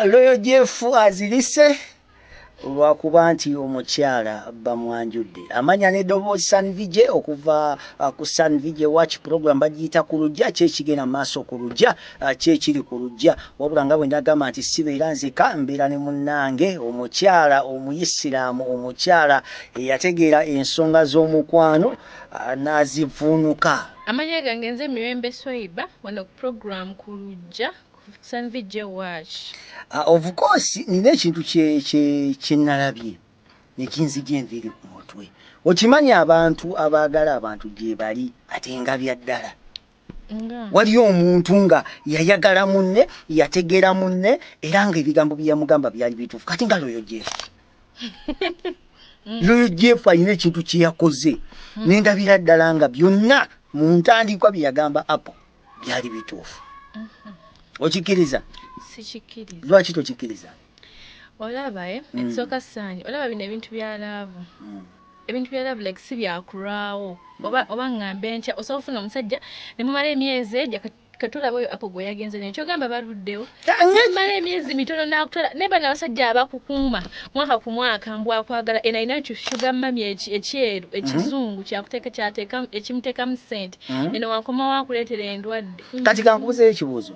loyo jeff azirise olwakuba nti omukyala bamwanjudde amanya ne dobozi sanvij okuva uh, ku sanvij watch program bagiyita ku lujja kyekigenda maaso ku lujja Ah, ki ekiri ku lujja wabula nga bwe nagamba nti sibeera nzeka mbeera ne munnange omukyala omuyisiraamu omukyala eyategeera ensonga z'omukwano ah, n'azivvuunuka Amanya gange nze Mirembe Swaiba wano ku program ku lujja ku 57 VJ watch. Ah, of course nina ekintu kye- kye- kye nalabye ne kinzigya enviiri ku mutwe okimanyi abantu abaagala abantu gyebali ate nga bya ddala waliyo omuntu nga yayagala munne yategeera munne era nga ebigambo byeyamugamba byali bituufu kati nga loyo jeff loyo jeff alina ekintu kyeyakoze hmm. nendabira ddala nga byonna mu ntandikwa byeyagamba apo byali bituufu hmm. okikiriza lwaki tokikiriza Olaba eh mm. ekisooka saanyi olaba bino ebintu bya laavu mm. ebintu bya laavu like si byakulwawo mm. oba, oba ŋŋambe ntya osobola ofuna omusajja ne mumala emyezi egyo katulaba oyo apo gwe yagenze naye kyogamba baluddewo mala emyezi mitono nakutwala naye bana abasajja abakukuuma mwaka ku mwaka mbu akwagala ena alina ekyo shuga mami ekyeru mhm. ekizungu kyakuteeka kyateeka ekimuteekamu ssente mhm. eno wankoma wakuleetera endwadde kati kankubuzeyo ekibuuzo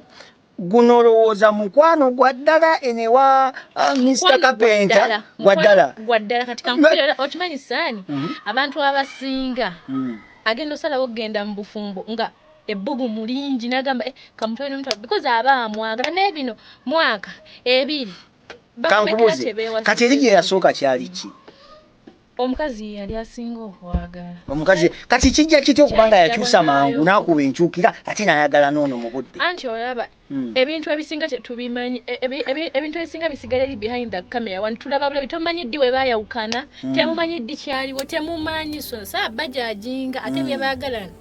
guno olowooza mukwano gwa ddala eno ewa uh, mr kapenta gwa ddala gwa ddala kati kankubira okimanyi saani mhm. abantu abasinga mm. agenda osalawo okugenda mu bufumbo nga ebbugu mulingi nagamba eh, kamutwale nomutwala because aba amwagala naye bino mwaka ebiri kankubuze kati eri gye yasooka kyali ki Omukazi ye yali asinga okwagala. Omukazi kati kijja kitya okuba nga yakyusa mangu n'akuba enkyukira ate n'ayagala n'ono mu budde? Anti olaba hmm. ebintu ebisinga tetubimanyi, e, ebintu ebisinga bisigala eri behind the camera wano tulaba bulabi, tomanyi ddi we baayawukana, hmm. temumanyi ddi kyaliwo, temumanyi so nsaa bajajinga ate hmm. bye baagalana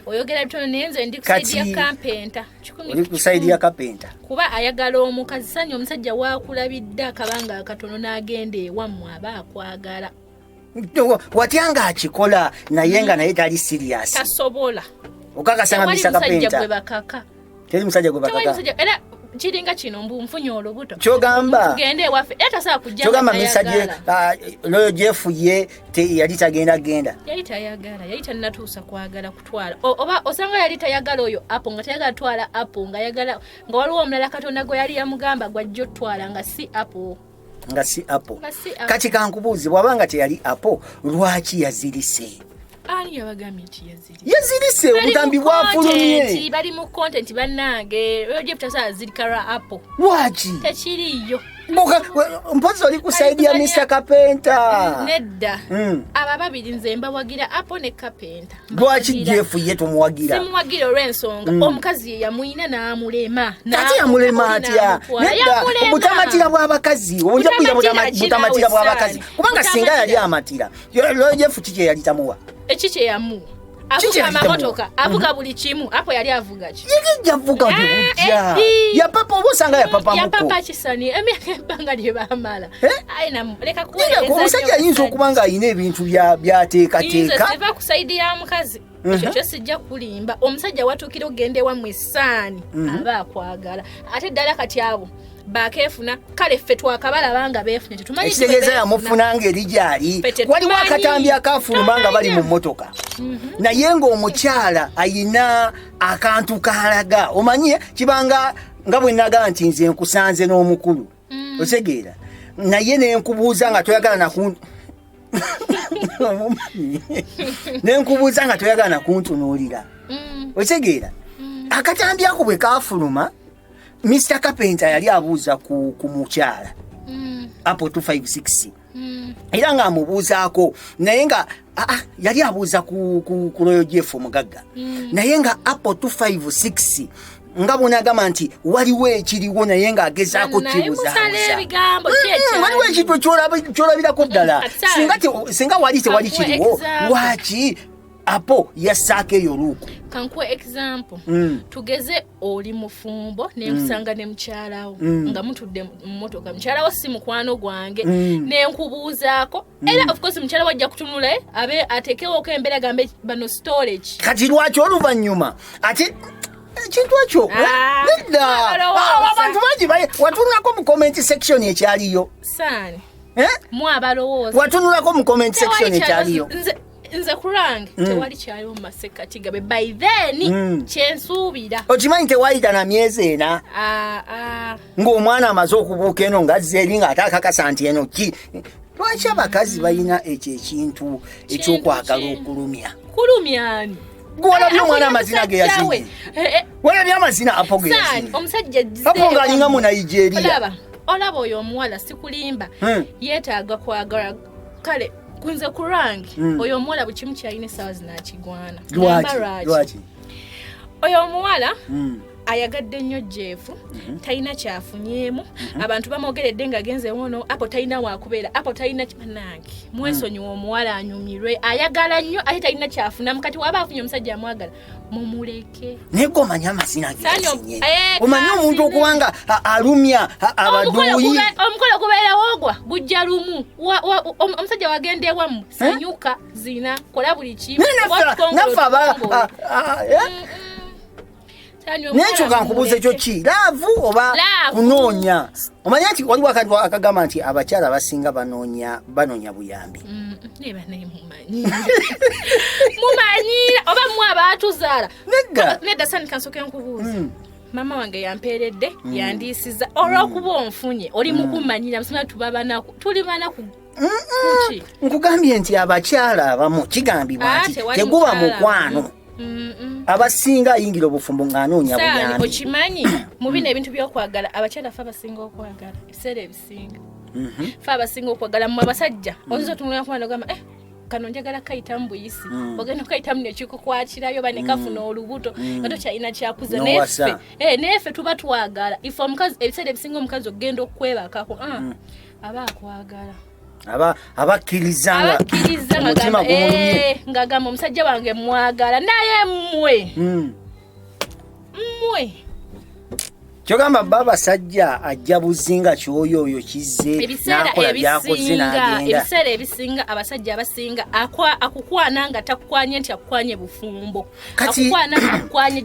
oyogera bitono naye nze ndi kusaidia kampenta. oli kusaidi ya kapenta kuba ayagala omukazi sanya omusajja wakulabidde akabanga akatono n'agenda ewammwe aba akwagala watya nga akikola naye nga naye tali sirias tasobola okakasanga misa kapenta teri musajja gwe bakaka kiringa kino mbu nfunye olubuto kyogamba tugende ewaffe era tasobola kujja kyogamba misa gye ah, loyo gyefuye yali tagenda genda yali tayagala yali tanatuusa kwagala twala oba osanga yali tayagala oyo apo nga tayagala twala apo nga yagala nga waliwo omulala katonda gwe yali yamugamba gwajja otwala nga si apo nga si apo kati kankubuuzi bwaba nga teyali apo lwaki yazirise yazirise obutambi bwafulumye bali mu content banange lwaki Buka mpozi oli kusaidia Mr Kapenta. Nedda. Mm. Aba babiri nze mbawagira apo ne Kapenta. Bwaki jefu ye tumuwagira. Simuwagira olwensonga mm. omukazi ye yamuyina n'amulema. Kati yamulema atya? Nedda. Obutamatira bw'abakazi. Obunja kuya butamatira bw'abakazi. Kubanga singa yali amatira. Yo jefu kiki yali tamuwa? Ekiki yamu. avuga amamotoka avuga mhm. buli kimu apo yali avuga ki yavuga ah, yapapa oba osanga yapapayapapa kisani emyaka ebbanga lye bamala omusajja ayinza okuba nga alina ebintu byateekateeka eva ku saidi ya mukazi mhm. ekyo kyo sijja kulimba omusajja watuukira okugenda ewamu esaani mhm. aba akwagala ate ddala kati abo bakefuna kale ffe twakabalaba nga befunye tetumanyiekitegeeza yamufuna ngeri gyali waliwo akatambi akafuluma nga bali mu mmotoka mhm. naye ng'omukyala ayina akantu kalaga omanye kibanga nga bwe naga nti nze nkusanze n'omukulu mm. otegeera naye nenkubuuza nga toyagala naku nenkubuuza nga toyagala nakuntunuulira mm. otegeera mm. akatambi ako bwe kafuluma Mr. Kapenta yali abuuza ku, ku mukyala mm. apo 256 mm. era nga amubuuzaako naye nga ah, ah, yali abuuza ku, ku, ku loyo jeff omugagga mm. naye nga apo 256 nga bwonagamba nti waliwo ekiriwo naye ng'agezaako kibuzaawaliwo ekintu kyolabirako ddala singa wali tewali kiriwo lwaki apo yassaako eyo luuku kankuwa example mm. tugeze oli mufumbo nenkusanga mm. ne mukyalawo mm. nga mutudde mumotoka mukyalawo si mukwano gwange mm. nenkubuuzaako mm. era ofcourse mukyalawo ajja kutunula eh, abe atekewoko embeera gambe bano storage kati lwaki oluvannyuma ate ekintu ekyo eh, ah, nedda ah, abantu bangi watunulako mu comment section ekyaliyo eh? mwabalowooza watunulako mu comment section ekyaliyo nze kulange mm. tewali kyaliwo mu masekkati gabe by then mm. kyensuubira okimanyi tewayita na myezi ena ah, ah. ng'omwana amaze okubuuka eno ngazze eri ng'ate akakasa nti eno ki lwaki abakazi balina ekyo ekintu ekyokwagala okulumya kulumyani gwolabye eh, omwana amazina ge yazinye eh, eh. wolabye amazina apo ge yazinye omusajja apo ng'alinga mu nigeria olaba oyo omuwala sikulimba hmm. yeetaaga kwagala kale kunze ku lwange mm. oyo omuwala buli kimu kyalina essaawa zinakigwana lwaki oyo omuwala mm. ayagadde nnyo jeefu mhm. talina kyafunyeemu mhm. abantu bamwogeredde nga genze wono apo talina wakubeera apo talina nange mwesonyiwa mm. omuwala anyumirwe ayagala nnyo ate talina kyafunamu kati waba afunye omusajja amwagala mumuleke naye gwe omanyi amazina gesinye eh, omanyi omuntu okubanga alumya abaduuyi omukolo gubeerawo ogwa gujja lumu omusajja wagenda ewamu eh? sanyuka zina kola buli kimu nekyo kankubuuza ekyo ki laavu oba kunoonya omanya nti waliwo akagamba nti abakyala abasinga banoonya buyambi mm, mumanyiira oba mwe abaatuzaala nedda sanika nsoke nkubuuza hmm. maama wange yampeeredde hmm. yandiisiza olwokuba hmm. onfunye oli mukumanyira musima tuba banaku tuli banaku nkugambye nti abakyala abamu kigambibwa ah, nti teguba mukwano abasinga ayingira obufumbo ng'anoonya buyambi okimanyi mu bino ebintu byokwagala abakyala fe abasinga okwagala ebiseera abasinga mhm. fe abasinga okwagala mu abasajja mm. oyinza otunulira kuba nogamba eh, kano njagala kayitamu buyisi mm. ogenda okayitamu nekikukwakirayo oba nekafuna mm. olubuto nga tokyalina kyakuza nefe eh, nefe tuba twagala ife omukazi ebiseera ebisinga omukazi okugenda okukwebakako ah, aba akwagala abakkiriza ngagamba eh, omusajja wange mwagala naye mwe mwe kyogamba bba basajja ajja buzinga kyoyo oyo kizze nakola byakoze nagenda ebiseera ebisinga abasajja abasinga akukwana nga takukwanye nti akukwanye bufumbo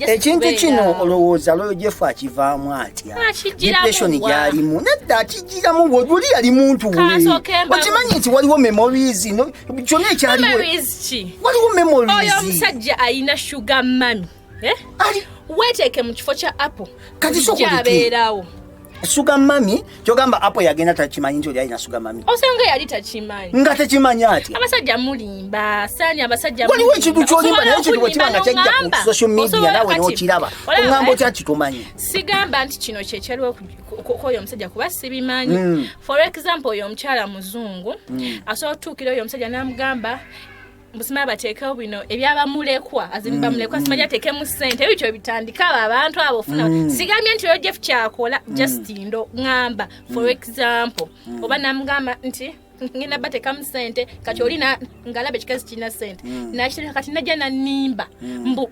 ekintu kino olowooza loyo jefu akivaamu atya depression gyalimu nedda akijjiramu wojuli yali muntu we okimanyi nti waliwo memories kyona ekyaliwo ki waliwo memories oyo omusajja ayina sugar mami eh? weteeke mu kifo kya apple kati sokujabeerawo sugar mami kyogamba apo yagenda takimanyi nti oli alina sugar mami osanga yali takimanyi nga tekimanyi ati abasajja mulimba sani abasajja waliwo ekintu kyolimba naye ekintu bwekiba nga kyajja ku social media nawe nokiraba ongamba otya kitumanyi sigamba nti kino kyekyaliwo kwoyo omusajja kuba sibimanyi mm. for example oyo omukyala muzungu mm. asobola okutuukira oyo omusajja namugamba musimala bateekewo bino ebyabamulekwa azini mm, bamulekwa mm. simaja ateekemu sente ebityo bitandika abo abantu abo ofuna mm. sigambye nti oyo jeff kyakola just ndo ŋamba for example oba namugamba nti ngenda batekamu sente kati oli ngalaba ekikazi kirina sente nakiteka kati najja nanimba mbu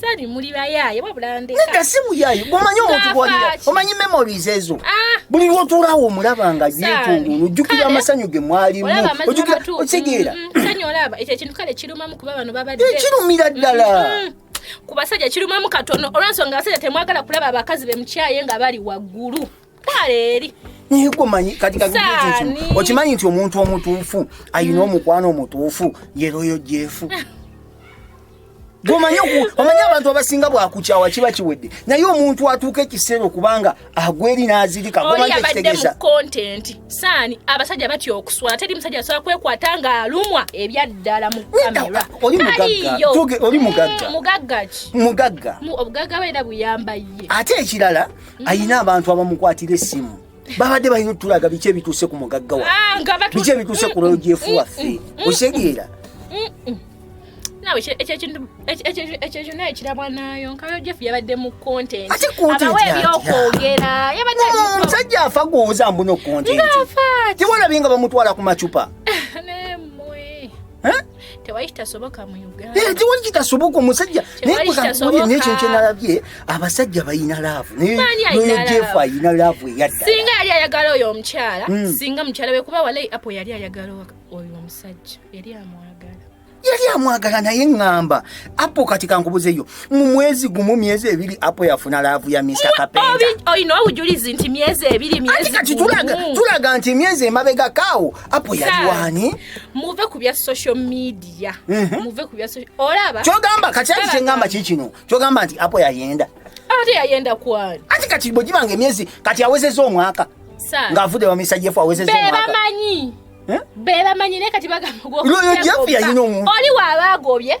sali muli bayaye wabula ndeka nenda si muyaye omanyi omuntu gwalira omanyi memories ezo ah. buli lwotulawo omulaba nga yetungulu ojjukira amasanyu ge mwalimu ojjukira okitegeera mm, mm, sanyu olaba ekyo ekintu kale kirumamu kuba bano babadde eh, kirumira ddala mm, ku basajja kirumamu katono olwensonga abasajja temwagala kulaba abakazi bemukyaye nga bali waggulu kaleeri naye gomanyi kati okimanyi nti omuntu omutuufu ayina omukwano omutuufu yeroyo jefu gomanyi omanyi abantu abasinga bwakukyawa kiba kiwedde naye omuntu atuuka ekiseera okubanga agweri nazirika saani abasajja batya okuswala teri musajja asobola kwekwata nga alumwa ebyaddala mu kameraoli mugagga mugagga mugagga obugagga beera buyamba ye ate ekirala mm. ayina abantu abamukwatira esimu babadde balina otulaga biki ebituuse ku mugagga wa ah, biki ebituuse ku logyefu waffe osegeera ekyekintu naye kirabwa nayo nkayo jeff yabadde mu contentabawa ebyokwogera yabaddeomusajja oh, afa gwoza mbuno contentewalabi nga bamutwala ku macupa tewali kitasoboka mu uganda eh, tewali kitasoboka omusajja naye kuzakuwulira naye kintu kyenalabye abasajja balina laavu nayeoyo jefu alina laavu eyadda singa yali ayagala oyo omukyala hmm. singa mukyala we kuba walayi apo yali ayagala oyo omusajja yali amwagala yali amwagala naye ŋŋamba apo kati kankubuzeyo mu mwezi gumu myezi ebiri apo yafuna laavu ya mr kapenda olina obujulizi nti myezi ebiri myezi kati tulaga nti myezi emabega kaawo apo yaliwani muve ku bya social media mhm. muve ku bya social olaba kyogamba kakyali kyengamba kikino kyogamba nti apo yayenda ate yayenda kwani ati kati bwegibanga emyezi kati awezeza omwaka ng'avudde bamisajjafu awezeza omwaka bebamanyi eh? bebamanyi naye kati bagamba oli waba agobye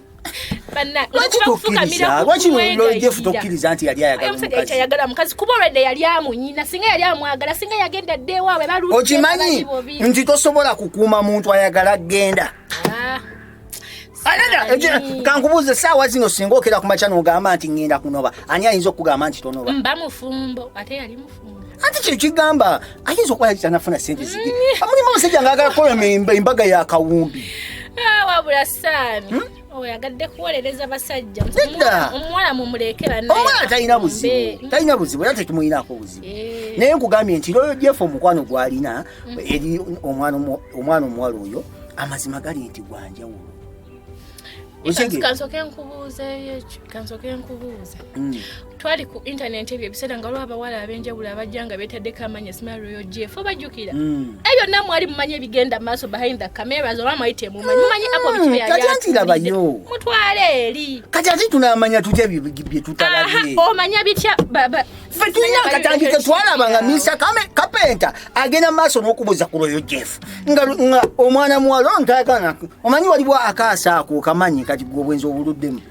ayagala mukazi kuba olwedde yali amunyina singa yali amwagala singa yagenda dda ewaabwe baokimanyi nti tosobola kukuuma muntu ayagala genda ah. kankubuuza esaawa zino singa okera ku makya nogamba nti ŋenda kunoba ani ayinza okugamba nti tonoba anti kino kigamba ayinza okuba yali tanafuna sente zige amulimu omusajja ngaagala kukola embaga ya kawumbi ah, wabula saami hmm? oyagadde oh, kuwolereza basajja omuwala mumulekeranoomuwala talina buzibu hmm. talina buzibu era tekimuyinako buzibu eh. naye nkugambye nti loyo jeff omukwano gwalina hmm. eri omwana omuwala oyo amazima gali nti gwanjawulo kansoke nkubuuzeeyo ekyo kansoke nkubuuze mm. twali ku intanenti ebyo ebiseera nga waliwo abawala ab'enjawulo abajja nga beetaddeko amanya simaroyo jef obajjukira mm. ebyo nna mwali mumanyi ebigenda mu maaso behind the cameras oba mwali temumanyi mumanyi apo bikibyayatirabayo mm, mutwale eri kati ati tunaamanya tutya bye tutalabye omanya bitya ffe tulina akatambi ke twalaba nga minsa kapenta agenda maaso n'okubuuza ku lwoyo jeff nga omwana muwala ono tayagana omanyi waliwo akaasa ako kamanyi kati gwe obwenzi obuluddemu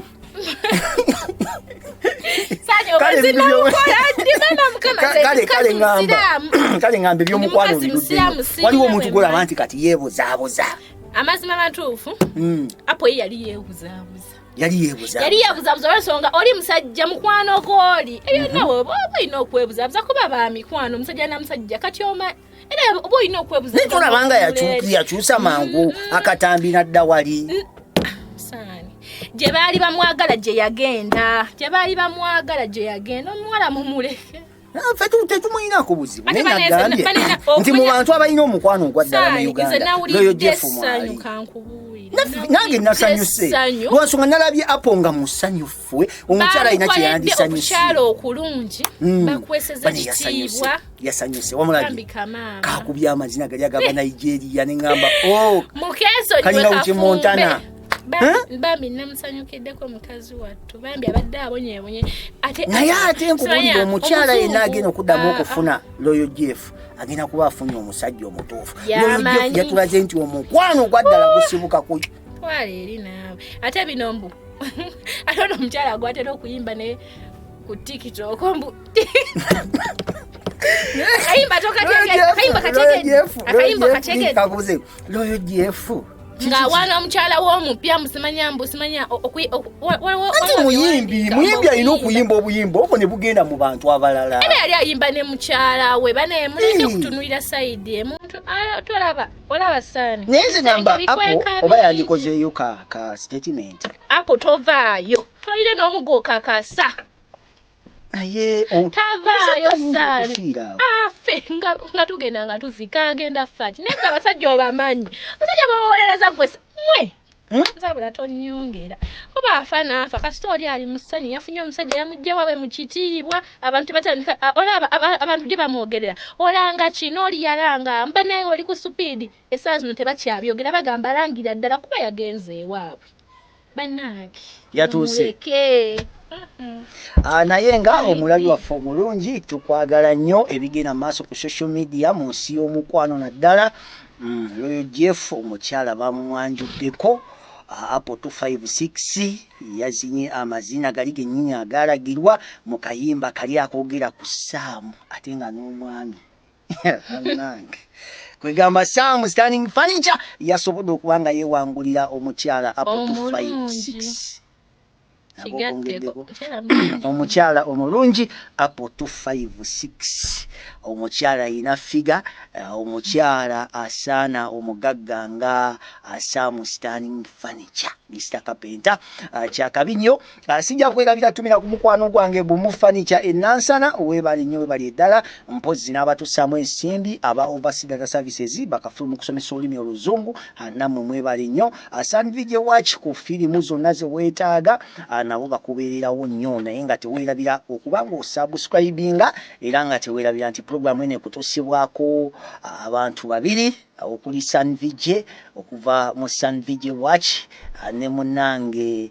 kale ngamba ebyomukwano biruddemu waliwo omuntu gwolaba nti kati yeebuzaabuza amazima matuufu hmm. apo ye yali yeebuzaabuza yali yebuza yali yebuza buza olwensonga oli musajja mukwano gwoli ebyo mhm. nawe oba olina okwebuza buza kuba ba mikwano musajja na musajja kati oma era oba olina okwebuza naye tolabanga yakyusa mangu mm-hmm. akatambi nadda wali gye baali bamwagala gye yagenda gye baali bamwagala gye yagenda omuwala mumuleke nfe tetumuyinako buzibu naye nagambye nti mu bantu abalina omukwano ogwaddala mu uganda loyo jefu mwali nange nasanyuse lwansonga nalabye apo nga musanyufu omukyala alina kyeyandisanyusemukyala okulungi hmm. bakweseza kitiibwa yasanyuse wamulabye kakubya amazina gali aga banigeria neŋamba oh, kalina uki montana bambi namusanyukiddeko mukazi wattu bambi abadde abonyebonye naye ate nkubulira omukyala yenna agenda okuddamu ah, okufuna ah. loyo jeff agenda kuba afunye omusajja omutuufu loyo jeff yatulaze nti omukwano ogwaddala gusibuka ku twala eri naawe ate bino mbu ate ono omukyala gwatera okuyimba naye ku tiktok mbu kabuze loyo jefu nga wana omukyala womupya musimanya mbu simanya anti muyimbi muyimbi alina okuyimba obuyimba obwo ne bugenda mu bantu abalala era yali ayimba ne mukyala we banaye muleke okutunulira saidi emuntu tolaba olaba saani naye nze namba apo oba yandikozeeyo ka statement apo tovaayo tolire n'omugo kakasa naye tavaayo saafe nga tugenda nga tuzika agenda faki naye nga abasajja obamanyi abasajja bawolereza gwe mwe nzabula tonyongera kuba afa naafa kasita oli ali musanyu yafunye omusajja yamujja wawe mu kitiibwa abantu batandika olaba abantu gye bamwogerera olanga kino oli yalanga mba naye oli ku supiidi esaa zino tebakyabyogera bagamba alangira ddala kuba yagenze ewaabwe banange yatuuse ah, naye nga omulabi waffe omulungi tukwagala nnyo ebigenda maaso ku social media mu nsi y'omukwano naddala mm, loyo jeff omukyala bamumwanjuddeko ah, apple 256 yazinye amazina gali gennyini agalagirwa mu kayimba kali akogera ku saamu ate nga n'omwami Banange. Kwegamba Sam standing furniture yasobodde okuba nga yewangulira omukyala up to Omulungi. 5 Kigatteko. Kyalabika. omukyala omulungi up to 5 6 omukyala alina figa eh, omukyala asaana omugagga nga ah, Sam standing furniture Mr Kapenta Ah, kyakabi nnyo Ah, sijja kwerabira tumira ku mukwano gwange gumu fanica enansana webale nyo webali eddala mpozzi n'abatussaamu ensimbi aba ovasidata services bakafulu mu kusomesa olulimi oluzungu ah, nammwe mwebale nnyo ah, sandvige watch ku firimu zonna ze weetaaga nabo bakubeererawo nnyo naye nga teweerabira okuba ng'osubscribinga era nga teweerabira nti pulogulaamu eno ekutuusibwako abantu babiri okuli sandvige okuva mu sandvige watch ne munange